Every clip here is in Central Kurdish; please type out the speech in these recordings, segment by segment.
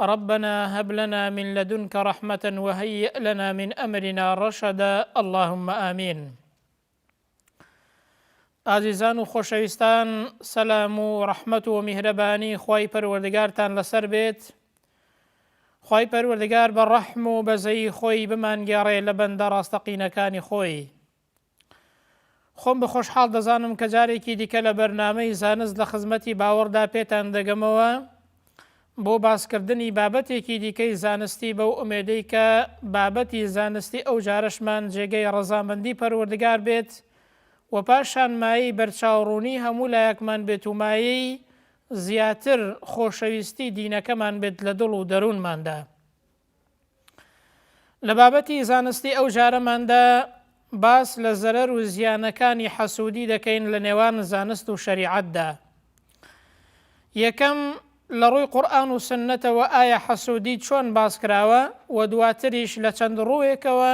ربنا هب لنا من لدنک رحمە وهیئ لنا من امرنا رشدا اللهم آمین ئازیزان و خۆشەویستان سەلام و ڕەحمەت و میهرەبانی خی پەروەردگارتان لەسەر بێت خی پەروەردگار بە ڕەحم و بەزەی خۆی بمانگەڕێ لە بەندە ڕاستەقینەکانی خۆی خۆم بە خۆشحاڵ دەزانم کە جارێکی دیکە لە بەرنامەی زانست لە خزمەتی باوەڕدا پێتان دەگەمەوە بۆ باسکردنی بابەتێکی دیکەی زانستی بەو ئومێدەی کە بابەتی زانستی ئەو جارەشمان جێگەی ڕەزامەندی پەروەردگار بێت و پاشان مایەی بەرچاوڕوونی هەموو لایەکمان بێت و مایەی زیاتر خۆشەویستی دینەکەمان بێت لە دڵ و دەروونماندا. لە بابەتی زانستی ئەو جارەماندا باس لە زەرەر و زیانەکانی حەسوودی دەکەین لە نێوان زانست و شەریعەتدا یەکەم لە ڕووی قورآن و سنەتەوە ئایا حەسوودی چۆن باس کراوە و دواتریش لە چەند ڕووێکەوە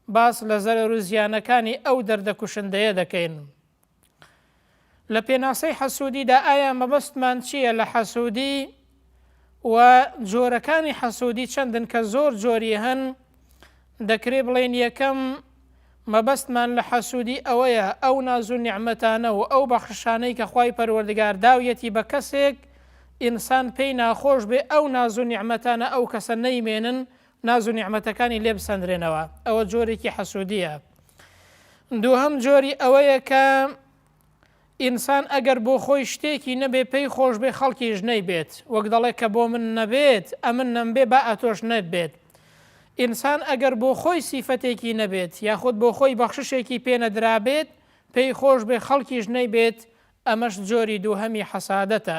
باس لە زەرەر و زیانەکانی ئەو دەردە کوشندەیە دەکەین لە پێناسەی حەسودیدا ئایا مەبەستمان چییە لە حەسودی و جۆرەکانی حەسودی چەندن کە زۆر جۆری هەن دەکرێ بڵێن یەکەم مەبەستمان لە حەسودی ئەوەیە ئەو ناز و نیعمەتانە و ئەو بەخششانەی کە خوای پەروەردگار داویەتی بە کەسێک ئینسان پێی ناخۆش بێ ئەو ناز و نیعمەتانە ئەو کەسە نەیمێنن ناز و نیعمەتەکانی لێ بسەندرێنەوە ئەوە جۆرێکی حەسودیە دووهەم جۆری ئەوەیە کە ئینسان ئەگەر بۆ خۆی شتێکی نەبێ پێی خۆش بێ خەڵکیش نەی بێت وەک دەڵێ کە بۆ من نەبێت ئەمن نەمبێ با ئەتۆش نەبێت ئینسان ئەگەر بۆ خۆی سیفەتێکی نەبێت یاخود بۆ خۆی بەخششێکی پێنەدرابێت پێی خۆش بێ خەڵکیش نەی بێت ئەمەش جۆری دووهەمی حەسادەتە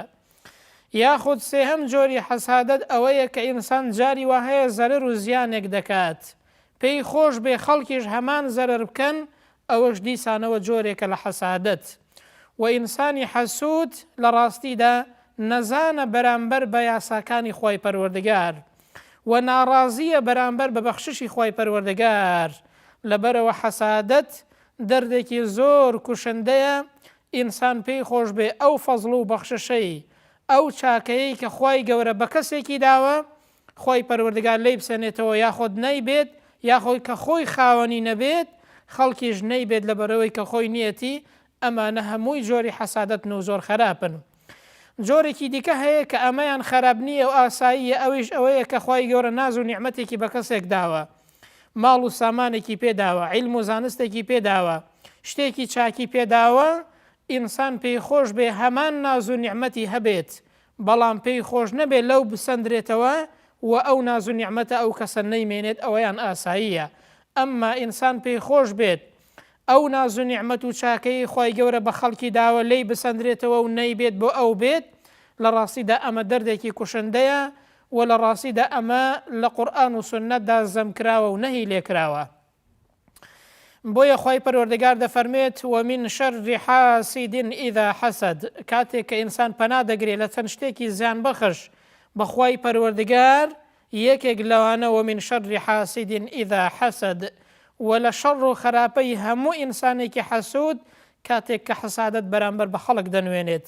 یاخود سێهەم جۆری حەسادەت ئەوەیە کە ئینسان جاری وا هەیە زەرەر و زیانێک دەکات پێی خۆش بێ خەڵکیش هەمان زەرەر بکەن ئەوەش دیسانەوە جۆرێکە لە حەسادەت وە ئینسانی حەسود لە ڕاستیدا نەزانە بەرامبەر بە یاساکانی خوای پەروەردگار وە ناڕازییە بەرامبەر بە بەخششی خوای پەروەردگار لەبەرەوە حەسادەت دەردێکی زۆر کوشندەیە ئینسان پێی خۆش بێ ئەو فەزڵ و بەخششەی، ئەو چاکەیەی کە خوای گەورە بە کەسێکی داوە، خوای پەروەردگار لێی بسەنێتەوە یاخۆد نەیبێت، یاخۆی کە خۆی خاوەنی نەبێت خەڵکیش نەیبێت لەبەرئەوەی کە خۆی نیەتی، ئەمانە هەمووی جۆری حەسادەتن و زۆر خەراپن. جۆرێکی دیکە هەیە کە ئەمەیان خەراپ نییە و ئاساییە ئەویش ئەوەیە کە خوای گەورە ناز و نیعمەتێکی بە کەسێک داوە ماڵ و سامانێکی پێ داوە، عیلم و زانستێکی پێ داوە، شتێکی چاکی پێ داوە، ئینسان پێی خۆش بێ هەمان ناز و نیعمەتی هەبێت، بەڵام پێی خۆش نەبێ لەو بسەندرێتەوە و ئەو ناز و نیعمەتە ئەو کەسە نەیمێنێت ئەوەیان ئاساییە، ئەمما ئینسان پێی خۆش بێت ئەو ناز و نیعمەت و چاکەیەی خوای گەورە بە خەڵکی داوە لێی بسەندرێتەوە و نەیبێت بۆ ئەو بێت، لە ڕاستیدا ئەمە دەردێکی کوشندەیە وە لە ڕاستیدا ئەمە لە قورئان و سوننەتدا زەم کراوە و نەهی لێ کراوە بۆیە خوای پەروەردگار دەفەرموێت ومن شر حاسد اذا حسد کاتێک کە ئینسان پەنا دەگرێت لە چەند شتێکی زیان بەخش بە خوای پەروەردگار یەکێک لەوانە ومن شر حاسد اذا حسد وە لە شەڕ و خەراپەی هەموو ئینسانێکی حەسود کاتێک کە حەسادەت بەرامبەر بە خەڵک دەنوێنێت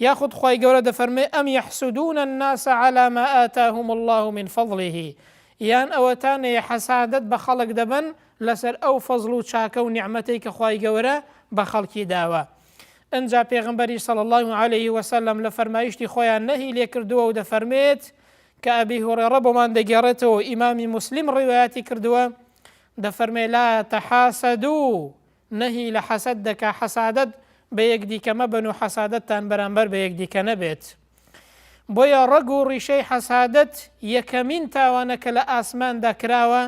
یاخود خوای گەورە دەفەرمێ ام یحسدون الناس علی ما آتاهم اللە من فضله یان ئەوەتانەیە حەسادەت بە خەڵک دەبەن لەسەر ئەو فەزڵ و چاکە و نیعمەتەی کە خوای گەورە بە خەڵکی داوە ئنجا پێغمبەری صلی اللە علیه وسلم لە فەرمایشتی خۆیان نەهی لێکردووە و دەفەرمێت کە ئەبی هوڕێڕە بۆمان دەگێڕێتەوە ئیمامی مسلیم ڕیوایەتی کردووە دەفەرمێ لا تەحاسەدوو نەهی لە حەسەد دەکا، حەسادەت بە یەکدیکە مەبەن و حەسادەتتان بەرامبەر بە یەکدیکە نەبێت. بۆیە ڕەگ و ڕیشەی حەسادەت یەکەمین تاوانە کە لە ئاسماندا کراوە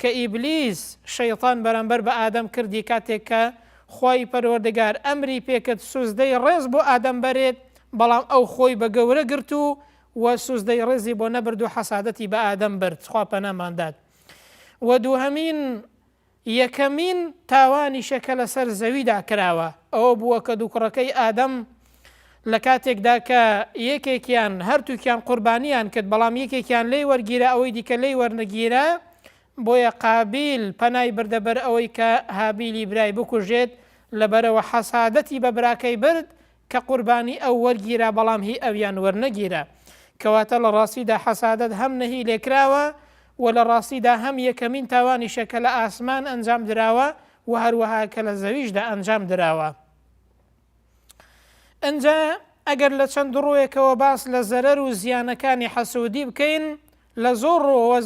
کە ئیبلیس، شەیتان، بەرامبەر بە ئادەم کردی کاتێک کە خوای پەروەردگار ئەمری پێکرد سوزدەی ڕێز بۆ ئادەم بەرێت بەڵام ئەو خۆی بە گەورە گرت و و سوزدەی ڕێزی بۆ نەبرد و حەسادەتی بە ئادەم برد خوا پەناماندات و دووهەمین یەکەمین تاوانیشە کە لەسەر زەویدا کراوە، ئەوە بووە کە دوو کوڕەکەی ئادەم لە کاتێکدا کە یەکێکیان، هەرتووکیان قوربانییان کرد، بەڵام یەکێکیان لێی وەرگیرا ئەوەی دیکە لێی وەرنەگیرا، بۆیە قابیل پەنای بردە بەر ئەوەی کە هابیلی برای بکوژێت، لەبەرئەوە حەسادەتی بە براکەی برد کە قوربانی ئەو وەرگیرا بەڵام هی ئەویان وەرنەگیرا کەواتە لە ڕاستیدا حەسادەت هەم نەهی لێکراوە و لە ڕاستیدا هەم یەکەمین تاوانیشە کە لە ئاسمان ئەنجام دراوە و هەروەها کە لە زەویشدا ئەنجام دراوە. ئنجا ئەگەر لە چەند ڕووێکەوە باس لە زەرەر و زیانەکانی حەسوودی بکەین لە زۆر ڕووەوە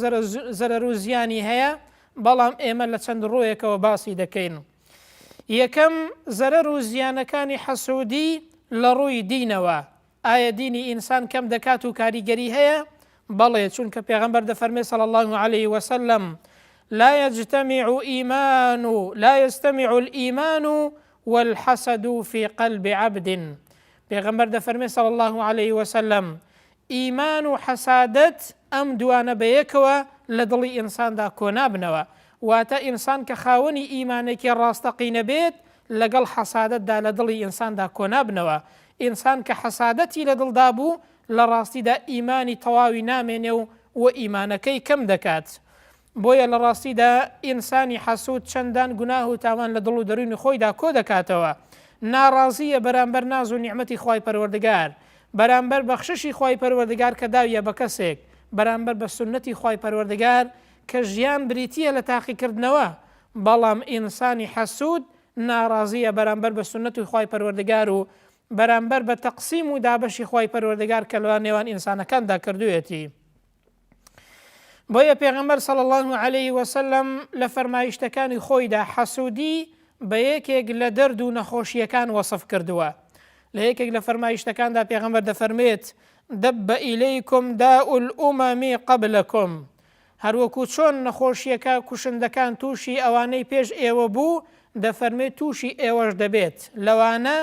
زەرەر و زیانی هەیە بەڵام ئێمە لە چەند ڕووێکەوە باسی دەکەین. یەکەم، زەرەر و زیانەکانی حەسوودی لە ڕووی دینەوە، ئایا دینی ئینسان کەم دەکات و کاریگەری هەیە؟ بەڵێ، چونکە پێغەمبەر دەفەرمێ صلی اللە علیە وسلم، لا یجتەمیع ئیمان و لا یجتەمیع الایمان و الحسد فی قلب عبد، پێغەمبەر دەفەرمێ صلی اللە علیە وسلم، ئیمان و حەسادەت ئەم دووانە بەیەکەوە لە دڵی ئینساندا کۆنابنەوە، واتە ئینسان کە خاوەنی ئیمانێکی ڕاستەقینە بێت لەگەڵ حەسادەتدا لە دڵی ئینساندا کۆنابنەوە، ئینسان کە حەسادەتی لە دڵدا بوو لە ڕاستیدا ئیمانی تەواوی نامێنێ و ئیمانەکەی کەم دەکات. بۆیە لە ڕاستیدا ئینسانی حەسوود چەندان گوناه و تاوان لە دڵ و دەروونی خۆیدا کۆ دەکاتەوە، ناڕازییە بەرامبەر ناز و نیعمەتی خوای پەروەردگار، بەرامبەر بەخششی خوای پەروەردگار کە داویە بە کەسێک، بەرامبەر بە سوننەتی خوای پەروەردگار کە ژیان بریتییە لە تاقیکردنەوە، بەڵام ئینسانی حەسوود ناڕازییە بەرامبەر بە سوننەتی خوای پەروەردگار و بەرامبەر بە تەقسیم و دابەشی خوای پەروەردگار کە لە نێوان ئینسانەکاندا کردوویەتی. بۆیە پێغەمبەر صلی الله علیه وسلم لە فەرمایشتەکانی خۆیدا حەسودی بە یەکێک لە دەرد و نەخۆشیەکان وەصف کردووە لە یەکێک لە فەرمایشتەکاندا پێغەمبەر دەفەرمێت دەبە ئیلیکم دا ئومەمی قبلکم هەروەکو چۆن نەخۆشیەکە کوشندەکان تووشی ئەوانەی پێش ئێوە بوو دەفەرمێت تووشی ئێوەش دەبێت لەوانە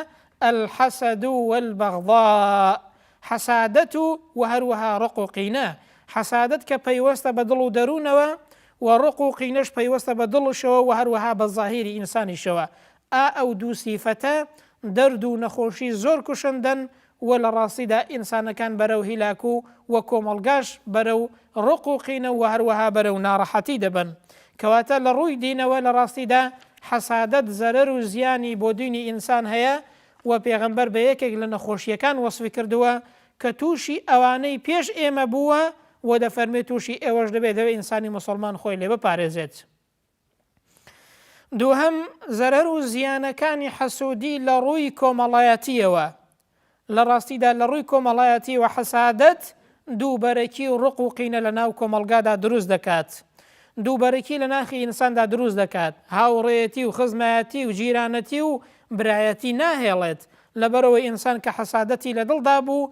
الحسد والبغضاء حەسادەت و وە هەروەها ڕق و قینە، حەسادەت کە پەیوەستە بە دڵ و دەروونەوە، وە ڕق و قینەش پەیوەستە بە دڵشەوە وە هەروەها بە زاهیری ئینسانیشەوە، ئا ئەو دوو سیفەتە دەرد و نەخۆشی زۆر کوشندەن و لە ڕاستیدا ئینسانەکان بەرەو هیلاک و وە کۆمەڵگاش بەرەو ڕق و قینە وە هەروەها بەرەو ناڕەحەتی دەبەن کەواتە لە ڕووی دینەوە لە ڕاستیدا حەسادەت زەرەر و زیانی بۆ دینی ئینسان هەیە وە پێغەمبەر بە یەکێک لە نەخۆشییەکان وەسفی کردووە کە تووشی ئەوانەی پێش ئێمە بووە وە دەفەرمێت تووشی ئێوەش دەبێت دەبێت ئینسانی موسڵمان خۆی لێ بپارێزێت دووهەم زەرەر و زیانەکانی حەسوودی لە ڕووی کۆمەڵایەتیەوە لە ڕاستیدا لە ڕووی کۆمەڵایەتیەوە حەسادەت دووبەرەکی و ڕق و قینە لە ناو کۆمەڵگادا دروست دەکات. دووبەرەکی لە ناخی ئینساندا دروست دەکات. هاوڕێیەتی و خزمایەتی و جیرانەتی و برایەتی ناهێڵێت. لەبەرئەوەی ئینسان کە حەسادەتی لە دڵدا بوو،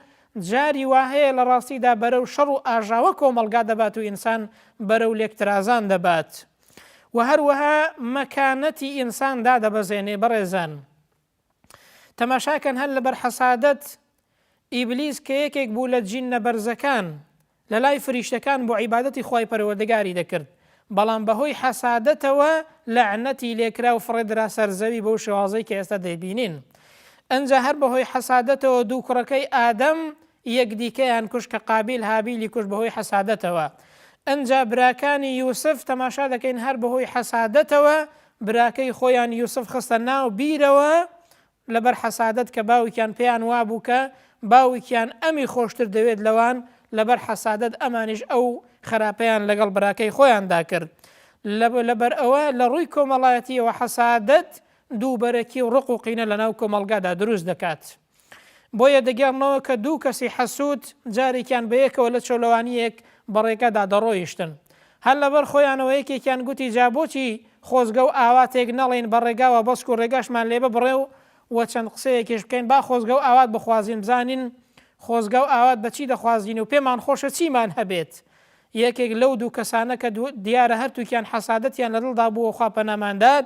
جاری وا هەیە لە ڕاستیدا بەرەو شەڕ و ئاژاوە کۆمەڵگا دەبات و ئینسان بەرەو لێکترازان دەبات و هەروەها مەکانەتی ئینسان دادەبەزێنێ. بەڕێزان! تەماشا کەن هەر لەبەر حەسادەت ئیبلیس کە یەکێک بوو لە جینە بەرزەکان لە لای فریشتەکان بۆ عیبادەتی خوای پەروەردگاری دەکرد بەڵام بەهۆی حەسادەتەوە لەعنەتی لێکرا و فڕێدرا سەر زەوی بەو شێوازەی کە ئێستا دەیبینین ئەنجا هەر بەهۆی حەسادەتەوە دوو کوڕەکەی ئادەم یەکدیکەیان کوش کە قابیل هابیلی کوش بەهۆی حەسادەتەوە ئەنجا براکانی یوسف تەماشا دەکەین هەر بەهۆی حەسادەتەوە براکەی خۆیان یوسف خستە ناو بیرەوە لەبەر حەسادەت کە باوکیان پێیان وابوو کە باوکیان ئەمی خۆشتر دەوێت لەوان لەبەر حەسادەت ئەمانیش ئەو خراپەیان لەگەڵ براکەی خۆیاندا کرد لەبەر ئەوە لە ڕووی کۆمەڵایەتیەوە حەسادەت دووبەرەکی و ڕق و قینە لەناو کۆمەڵگادا دروست دەکات. بۆیە دەگێڕنەوە کە دوو کەسی حەسوود جارێکیان بەیەکەوە لە چۆلەوانییەک بە ڕێگەدا دەڕۆیشتن. هەر لەبەر خۆیانەوە یەکێکیان گوتی جا بۆچی خۆزگە و ئاواتێک نەڵێین بە ڕێگاوە بەسک و ڕێگاشمان لێ ببڕێ و و چەند قسەیەکیش بکەین با خۆزگە و ئاوات بخوازین بزانین خۆزگە و ئاوات بە چی دەخوازین و پێمان خۆشە چیمان هەبێت یەکێک لەو دوو کەسانە کە دیارە هەرتووکیان حەسادەتیان لە دڵدا بووە خوا پەنامان دات،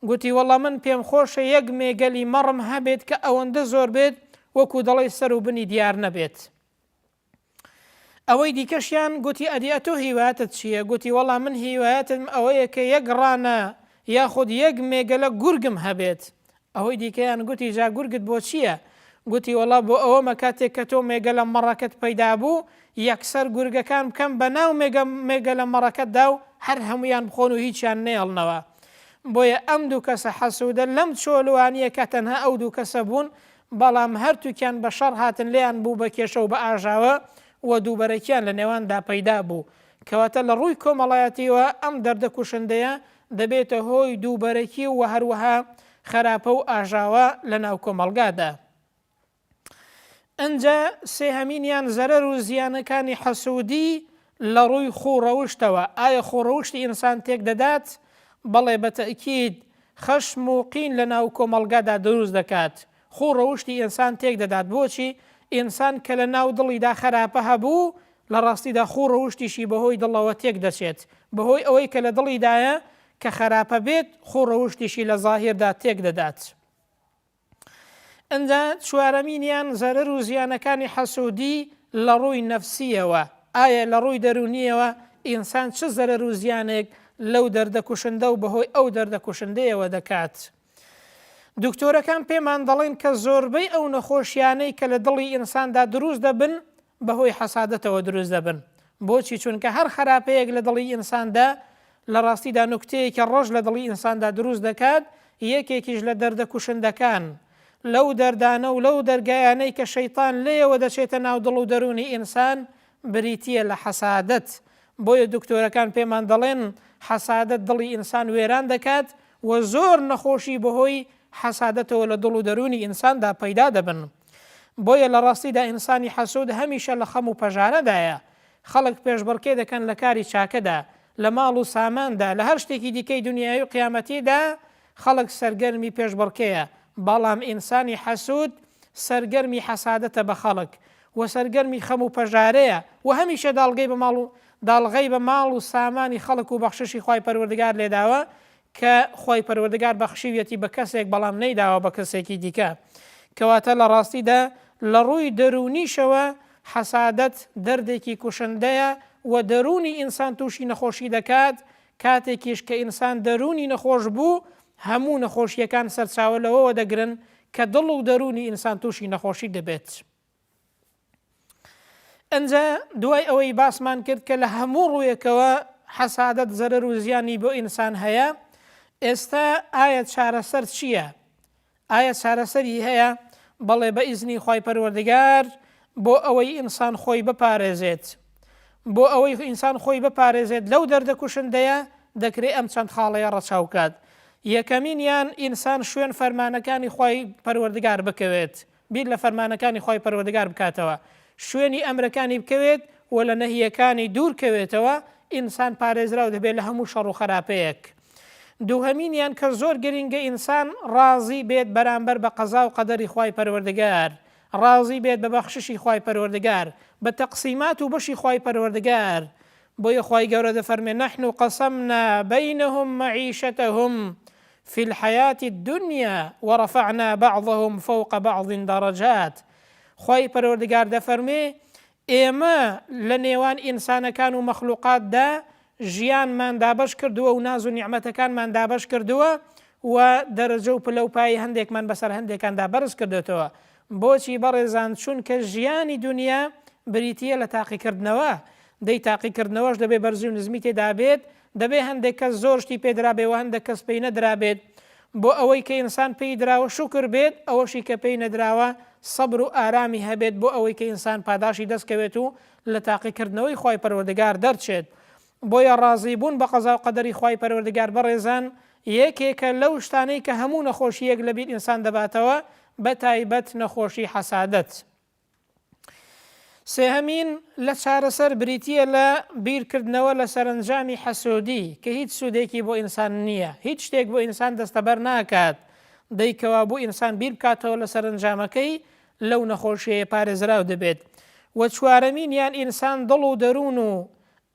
گوتی وەڵڵا من پێم خۆشە یەک مێگەلی مەڕم هەبێت کە ئەوەندە زۆر بێت وەکوو دەڵێی سەر و بنی دیار نەبێت. ئەوەی دیکەشیان گوتی ئەدی ئەتۆ هیوایەتت چییە؟ گوتی وەڵڵا من هیوایەتم ئەوەیە کە یەک ڕانە یاخود یەک مێگەلە گورگم هەبێت، ئەوەی دیکەیان گوتی جا گورگت بۆ چییە؟ گوتی وەڵا بۆ ئەوەمە کاتێک کە تۆ مێگەلە مەڕەکەت پەیدا بوو یەکسەر گورگەکان بکەم بە ناو مێگەلە مەڕەکەتدا و هەر هەموویان بخۆن و هیچیان نەیەڵنەوە بۆیە ئەم دوو کەسە حەسوودە لەم چۆلوانییە کە تەنها ئەو دوو کەسە بوون بەڵام هەرتووکیان بە شەڕ هاتن لێیان بوو بە کێشە و بە ئاژاوە و دووبەرەکیان لە نێواندا پەیدا بوو کەواتە لە ڕووی کۆمەڵایەتییەوە ئەم دەردە کوشندەیە دەبێتە هۆی دووبەرەکی و هەروەها خەراپە و ئاژاوە لە ناو کۆمەڵگادا. ئنجا سێهەمینیان زەرەر و زیانەکانی حەسوودی لە ڕووی خوو ڕەوشتەوە، ئایا خوو ڕەوشتی ئینسان تێک دەدات؟ بەڵێ بە تەئکید، خەشم و قین لە ناو کۆمەڵگادا دروست دەکات. خوو ڕەوشتی ئینسان تێک دەدات، بۆچی؟ ئینسان کە لە ناو دڵیدا خەراپە هەبوو، لە ڕاستیدا خوو ڕەوشتیشی بە هۆی دڵەوە تێک دەچێت، بە هۆی ئەوەی کە لە دڵیدایە کە خەراپە بێت خوو ڕەوشتیشی لە زاهیردا تێک دەدات. ئنجا چوارەمینیان زەرەر و زیانەکانی حەسوودی لە ڕووی نەفسییەوە، ئایا لە ڕووی دەروونییەوە ئینسان چ زەرەر و زیانێک لەو دەردە کوشندە و بە هۆی ئەو دەردە کوشندەیەوە دەکات؟ دوکتۆرەکان پێمان دەڵێن کە زۆربەی ئەو نەخۆشییانەی کە لە دڵی ئینساندا دروست دەبن، بەهۆی حەسادەتەوە دروست دەبن. بۆچی؟ چونکە هەر خەراپەیەک لە دڵی ئینساندا، لە ڕاستیدا نوکتەیەکی ڕەش لە دڵی ئینساندا دروست دەکات، یەکێکیش لە دەردە کوشندەکان، لەو دەردانە و لەو دەرگایانەی کە شەیتان لێیەوە دەچێتە ناو دڵ و دەروونی ئینسان، بریتییە لە حەسادەت. بۆیە دکتۆرەکان پێمان دەڵێن، حەسادەت دڵی ئینسان وێران دەکات و زۆر نەخۆشی بەهۆی حەسادەتەوە لە دڵ و دەروونی ئینساندا پەیدا دەبن. بۆیە لە ڕاستیدا ئینسانی حەسوود هەمیشە لە خەم و پەژارەدایە. خەڵک پێشبڕکێ دەکەن لە کاری چاکەدا، لە ماڵ و ساماندا، لە هەر شتێکی دیکەی دونیایی و قیامەتیدا خەڵک سەرگەرمی پێشبڕکێیە، بەڵام ئینسانی حەسوود سەرگەرمی حەسادەتە بە خەڵک و سەرگەرمی خەم و پەژارەیە و هەمیشە داڵغی بە ماڵ و داڵغەی بە ماڵ و سامانی خەڵک و بەخششی خوای پەروەردگار لێداوە کە خوای پەروەردگار بەخشیویەتی بە کەسێک بەڵام نەیداوە بە کەسێکی دیکە کەواتە لە ڕاستیدا لە ڕووی دەروونیشەوە حەسادەت دەردێکی کوشندەیە و دەروونی ئینسان تووشی نەخۆشی دەکات کاتێکیش کە ئینسان دەروونی نەخۆش بوو هەموو نەخۆشییەکان سەرچاوە لەوەوە دەگرن کە دڵ و دەروونی ئینسان تووشی نەخۆشی دەبێت. ئەنجا دوای ئەوەی باسمان کرد کە لە هەموو ڕوویەکەوە حەسادەت زەرەر و زیانی بۆ ئینسان هەیە ئێستا ئایا چارەسەر چییە؟ ئایا چارەسەری هەیە؟ بەڵێ بە ئیزنی خی پەروەردگار بۆ ئەوەی ئینسان خۆی بپارێزێت بۆ ئەوەی ئینسان خۆی بپارێزێت لەو دەردە کوشندەیە دەکرێت ئەم چەند خاڵەیە ڕەچاو کات یەکەمینیان ئینسان شوێن فەرمانەکانی خی پەروەردگار بکەوێت بیر لە فەرمانەکانی خوای پەروەردگار بکاتەوە، شوێنی ئەمرەکانی بکەوێت و لە نەهییەکانی دوور کەوێتەوە، ئینسان پارێزراو دەبێت لە هەموو شەڕ و خەراپەیەک. دووهەمینیان کە زۆر گرینگە ئینسان ڕازی بێت بەرامبەر بە قەزا و قەدەری خوای پەروەردگار، ڕازی بێت بە بەخششی خوای پەروەردگار، بە تەقسیمات و بەشی خوای پەروەردگار، بۆیە خوای گەورە دەفەرمێ، نحن قسمنا بینهم معیشتهم فی الحیاة الدنیا ورفعنا بعضهم فوق بعض درجات، خوای پەروەردگار دەفەرمێ، ئێمە لە نێوان ئینسانەکان و مەخلوقاتدا ژیانمان دابەش کردووە و ناز و نیعمەتەکانمان دابەش کردووە و دەرەجە و پلە و پایەی هەندێکمان بەسەر هەندێکاندا بەرز کردۆتەوە بۆچی بەڕێزان چونکە ژیانی دونیا بریتیە لە تاقیکردنەوە دەی تاقیکردنەوەش دەبێ بەرزی و نزمی تێدابێت دەبێ هەندێک کەس زۆر شتی پێدرابێ وە هەندەک کەس پێی نەدرابێت بۆ ئەوەی کە ئینسان پێی دراوە شوکر بێت ئەوەشی کە پێی نەدراوە سەبر و ئارامی هەبێت بۆ ئەوەی کە ئینسان پاداشی دەستکەوێت و لە تاقیکردنەوەی خوای پەروەردگار دەرچێت بۆیە ڕازی بوون بە قەزا و قەدەری خوای پەروەردگار بەڕێزان یەکێکە لەو شتانەی کە هەموو نەخۆشییەک لە بیر ئینسان دەباتەوە بە تایبەت نەخۆشی حەسادەت. سێهەمین لە چارەسەر بریتییە لە بیر کردنەوە لە سەرەنجامی حەسوودی کە هیچ سوودێکی بۆ ئینسان نییە هیچ شتێک بۆ ئینسان دەستەبەر ناکات دەی کەوابوو ئینسان بیر بکاتەوە لە سەرەنجامەکەی لەو نەخۆشیەیە پارێزراو دەبێت وە چوارەمینیان ئینسان دڵ و دەروون و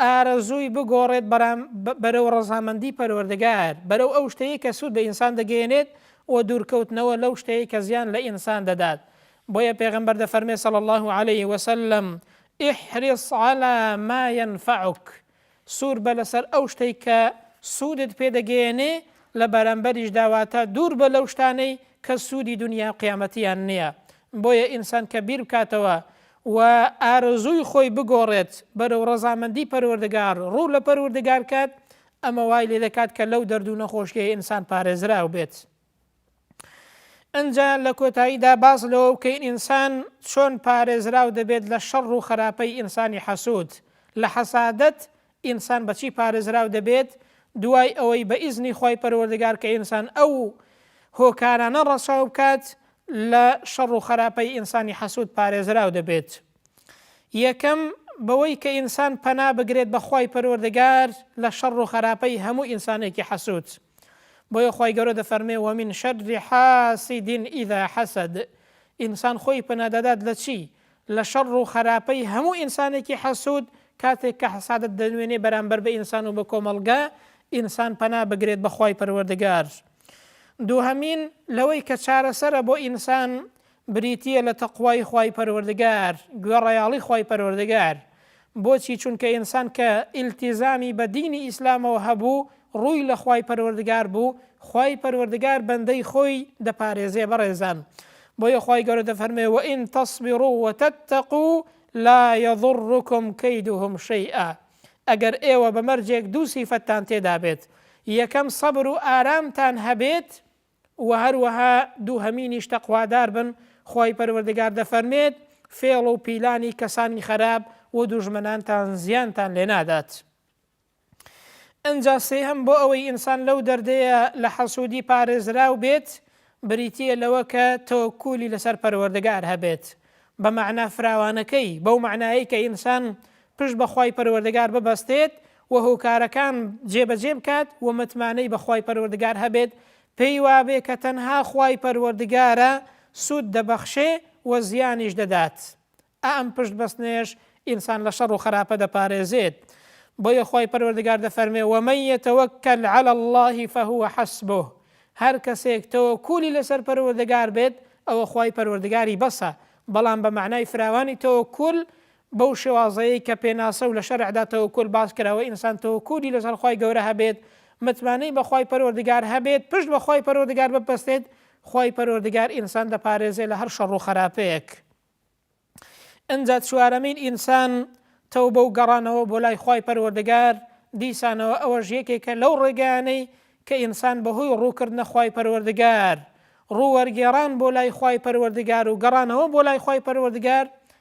ئارەزووی بگۆڕێت بەرام بەرەو ڕەزامەندی پەروەردگار، بەرەو ئەو شتەی کە سوود بە ئینسان دەگەیەنێت و دوورکەوتنەوە لەو شتەی کە زیان لە ئینسان دەدات، بۆیە پێغەمبەر دەفەرمێت صلی اللە علیە وسلم، احرص علی ما ینفعک، سوور بە لەسەر ئەو شتەی کە سوودت پێ دەگەیەنێ لە بەرامبەریشدا واتە دوور بە لەو شتانەی کە سوودی دونیا و قیامەتیان نیە، بۆیە ئینسان کە بیر بکاتەوە و ئارەزووی خۆی بگۆڕێت بەرەو ڕەزامەندی پەروەردگار، ڕوو لە پەروردگار بکات، ئەمە وای لێ دەکات کە لەو دەرد و نەخۆشییەی ئینسان پارێزراو بێت. ئنجا لە کۆتاییدا باس لەوە بکەین ئینسان چۆن پارێزراو دەبێت لە شەڕ و خەراپەی ئینسانی حەسوود، لە حەسادەت ئینسان بە چی پارێزراو دەبێت دوای ئەوەی بە ئیزنی خوای پەروەردگار کە ئینسان ئەو هۆکارانە ڕەچاو بکات لە شەڕ و خەراپەی ئینسانی حەسود پارێزراو دەبێت یەکەم بەوەی کە ئینسان پەنا بگرێت بە خوای پەروەردگار لە شەڕ و خەراپەی هەموو ئینسانێکی حەسود بۆیە خوای گەورە دەفەرمێ وەمین شەر حاسدین ئیدا حەسد ئینسان خۆی پەنادەدات لە چی لە شەڕ و خەراپەی هەموو ئینسانێکی حەسوود، کاتێک کە حەسادەت دەنوێنێ بەرامبەر بە ئینسان و بە کۆمەڵگە، ئینسان پەنا بگرێت بە خوای پەروەردگار. دووهەمین، لەوەی کە چارەسەرە بۆ ئینسان، بریتییە لە تەقوای خوای پەروەردگار، گوێڕایەڵی خوای پەروەردگار. بۆچی چونکە ئینسان کە ئیلتیزامی بە دینی ئیسلامەوە هەبوو ڕووی لە خوای پەروەردگار بوو خوای پەروەردگار بەندەی خۆی دەپارێزێ بەڕێزان بۆیە خوای گەورە دەفەرمێ وئن تصبروا وتتقوا لا یضرکم کیدهم شیئا ئەگەر ئێوە بە مەرجێک دوو سیفەتتان تێدا بێت یەکەم سەبر و ئارامتان هەبێت وە هەروەها دووهەمینیش تەقوادار بن، خوای پەروەردگار دەفەرمێت، فێڵ و پیلانی کەسانی خەراپ و دوژمنانتان زیانتان لێ نادات. ئنجا سێهەم بۆ ئەوەی ئینسان لەو دەردەیە لە حەسودی پارێزراو بێت بریتیە لەوە کە تەوەکولی لەسەر پەروەردگار هەبێت بە مەعنا فراوانەکەی بەو مەعنایەی کە ئینسان پشت بە خوای پەروەردگار ببەستێت و هۆکارەکان جێبەجێ بکات و متمانەی بە خوای پەروەردگار هەبێت پێی وابێ کە تەنها خوای پەروەردگارە سوود دەبەخشێ و زیانیش دەدات ئا ئەم پشت بەستنەیەش ئینسان لە شەڕ و خەراپە دەپارێزێت بۆیە خوای پەروەردگار دەفەرمێ ومن یتوکل علی اللە فهو حسبه هەر کەسێک تەوەکولی لەسەر پەروەردگار بێت ئەوە خوای پەروەردگاری بەسە بەڵام بە معنای فراوانی تەوەکول بەو شێوازەی کە پێناسە و لە شەرعدا تەوەکول باس کراوە ئینسان تەوەکولی لەسەر خوای گەورە هەبێت متمانەی بە خوای پەروەردگار هەبێت پشت بە خوای پەروەردگار ببەستێت خوای پەروەردگار ئینسان دەپارێزێ لە هەر شەڕ و خەراپەیەک ئنجا چوارەمین ئینسان تەوبە و گەڕانەوە بۆ لای خوای پەروەردگار دیسانەوە ئەوەش یەکێکە لەو ڕێگانەی کە ئینسان بەهۆی ڕووکردنە خوای پەروەردگار ڕووەرگێڕان بۆ لای خوای پەروەردگار و گەڕانەوە بۆ لای خوای پەروەردگار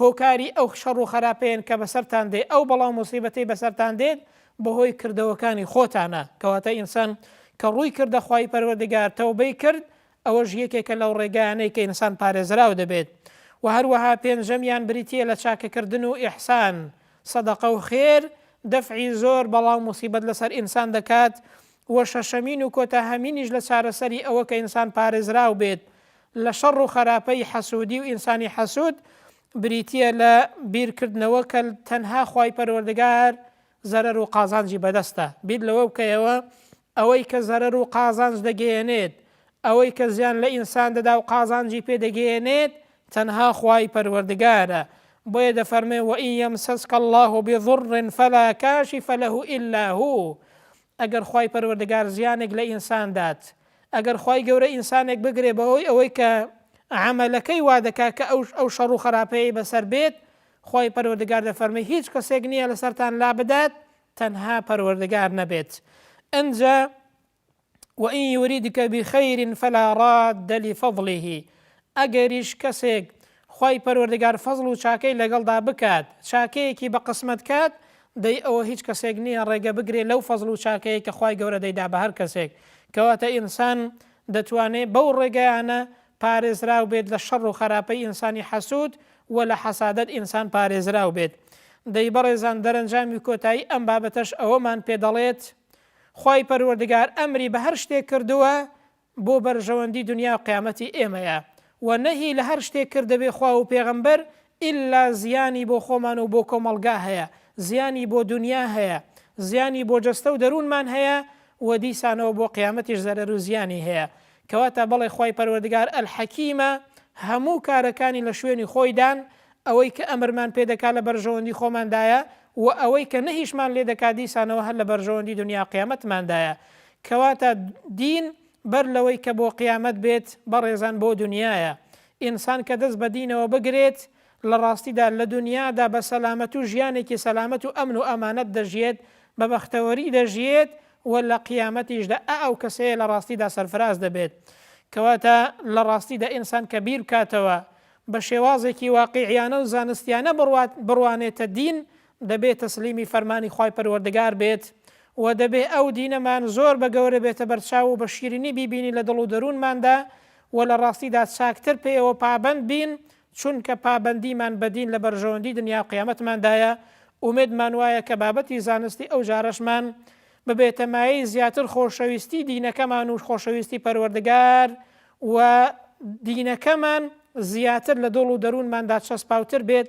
هۆکاری ئەو شەڕ و خەراپەیەن کە بەسەرتان دێ، ئەو بەڵا و موسیبەتەی بەسەرتان دێت بەهۆی کردەوەکانی خۆتانە، کەواتە ئینسان کە ڕووی کردە خوای پەروەردگار تەوبەی کرد ئەوەش یەکێکە لەو ڕێگایانەی کە ئینسان پارێزراو دەبێت وە هەروەها پێنجەمیان بریتیە لە چاکەکردن و ئیحسان، سەدەقە و خێر، دەفعی زۆر بەڵا و موسیبەت لەسەر ئینسان دەکات، وە شەشەمین و کۆتاهەمینیش لە چارەسەری ئەوە کە ئینسان پارێزراو بێت لە شەڕ و خەراپەی حەسوودی و ئینسانی حەسوود بریتییە لە بیر کردنەوە کە تەنها خوای پەروەردگار زەرەر و قازانجی بەدەستە، بیر لەوە بکەیەوە ئەوەی کە زەرەر و قازانج دەگەیەنێت، ئەوەی کە زیان لە ئینسان دەدا و قازانجی پێ دەگەیەنێت تەنها خوای پەروەردگارە، بۆیە دەفەرمێ، وَإِن یمسسک اللە بضر فلا کاشف لە الا هو، ئەگەر خوای پەروەردگار زیانێک لە ئینسان دات، ئەگەر خوای گەورە ئینسانێک بگرێ بەهۆی ئەوەی کە عەمەلەکەی وا دەکات کە ئەو ئەو شەڕ و خەراپەیەی بەسەر بێت، خوای پەروەردگار دەفەرموی هیچ کەسێک نییە لەسەرتان لابدات تەنها پەروەردگار نەبێت. ئنجا، وان یوریدک بخیر فلا راد لفضله، ئەگەریش کەسێک خوای پەروەردگار فەزڵ و چاکەی لەگەڵدا بکات چاکەیەکی بە قسمەت کات دەی ئەوە هیچ کەسێک نیە ڕێگە بگرێ لەو فەزڵ و چاکەیەی کە خوای گەورە دەیدا بە هەر کەسێک کەواتە ئینسان دەتوانێ بەو ڕێگەیانە پارێزراو بێت لە شەڕ و خەراپەی ئینسانی حەسود وە لە حەسادەت ئینسان پارێزراو بێت دەی بەڕێزان دەرەنجامی کۆتایی ئەم بابەتەش ئەوەمان پێ دەڵێت خوای پەروەردگار ئەمری بە هەر شتێک کردووە بۆ بەرژەوەندی دنیاو قیامەتی ئێمەیە وە نەهی لە هەر شتێک کردە بێ خوا و پێغەمبەر ئیلا زیانی بۆ خۆمان و بۆ کۆمەڵگا هەیە زیانی بۆ دنیا هەیە زیانی بۆ جەستەو دەرونمان هەیە وە دیسانەوە بۆ قیامەتیش زەرەرو زیانی هەیە کەواتە بەڵێ خوای پەروەردگار الحکیمە هەموو کارەکانی لە شوێنی خۆیدان ئەوەی کە ئەمرمان پێ دەکا لە بەرژەوەندی خۆماندایە وە ئەوەی کە نەهیشمان لێ دەکا دیسانەوە هەر لە بەرژەوەندی دنیا قیامەتماندایە کەواتە دین بەر لەوەی کە بۆ قیامەت بێت بەڕێزان بۆ دونیایە، ئینسان کە دەست بە دینەوە بگرێت لە ڕاستیدا لە دونیادا بە سەلامەت و ژیانێکی سەلامەت و ئەمن و ئەمانەت دەژیێت، بە بەختەوەری دەژیێت و لە قیامەتیشدا ئە ئەو کەسەیە لە ڕاستیدا سەرفراز دەبێت. کەواتە لە ڕاستیدا ئینسان کە بیر بکاتەوە بە شێوازێکی واقیعیانە و زانستیانە بڕوات بڕوانێتە دین دەبێ تەسلیمی فەرمانی خوای پەروەردگار بێت و دەبێ ئەو دینەمان زۆر بە گەورە بێتە بەرچاو و بە شیرینی بیبینین لە دڵ و دەروونماندا و لە ڕاستیدا چاکتر پێیەوە پابەند بین چونکە پابەندیمان بە دین لە بەرژەوەندی دنیا و قیامەتماندایە ئومێدمان وایە کە بابەتی زانستی ئەو جارەشمان ببێتە مایەی زیاتر خۆشەویستی دینەکەمان و خۆشەویستی پەروەردگار و دینەکەمان زیاتر لە دڵ و دەروونماندا چەسپاوتر بێت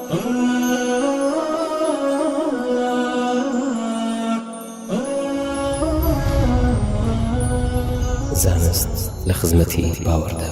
زانست لە خزمەتی باوەڕدا.